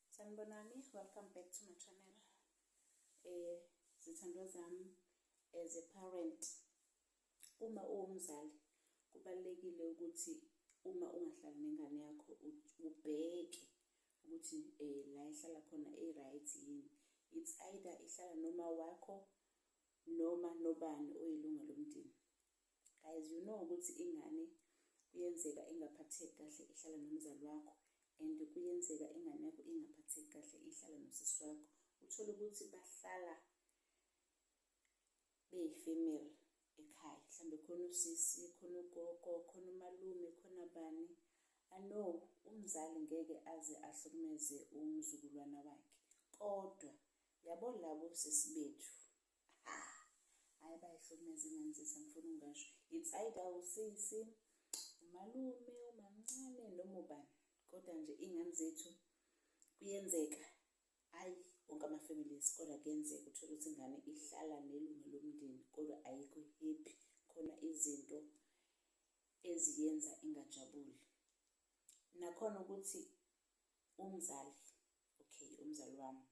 sanibonani welcome back to my channel eh zithandwa zami as a parent uma uwumzali kubalekile ukuthi uma ungahlali nengane yakho ubheke ukuthi eh la ihlala khona e right yini it's either ihlala noma wakho noma nobani oyilunga lomndeni guys you know ukuthi ingane kuyenzeka ingaphatheki kahle ihlala nomzali wakho and kuyenzeka ingane yakho ingaphatheki kahle ihlala nosisi wakho uthole ukuthi bahlala beyi-female ekhaya mhlawumbe khona usisi khona ugogo khona umalume khona bani ano umzali ngeke aze ahlukumeze umzukulwana wakhe kodwa yabo labo sisi bethu hayi bayihlukumeza ingane sisi angifuni ungasho it's either usisi umalume umamncane noma ubani kodwa nje iy'ngane zethu kuyenzeka ayi wonke ama-families kodwa kuyenzeka uthole ukuthi ingane ihlala nelunga lomndeni kodwa ayikho happy khona izinto eziyenza ingajabuli nakhona ukuthi umzali okay umzali wami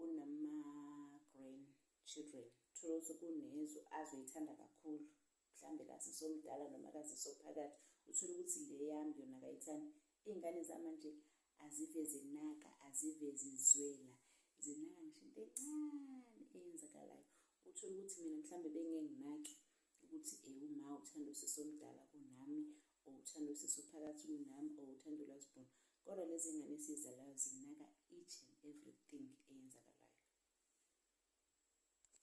unama-grand children thola ukuthi kunezwe azoyithanda kakhulu mhlawumbe kazisomdala noma kazisophakathi uthole ukuthi le yami yona kayithandi iy'ngane zamanje azive zinaka azive zizwela zinaka ngisho into encane eyenzakalayo uthole ukuthi mina mhlawumbe bengenginaki ukuthi eh uma uthanda usisi omdala kunami or uthanda usisi ophakathi kunami or uthanda ulazibona kodwa lezi ngane esizalayo zinaka each and everything eyenzakalayo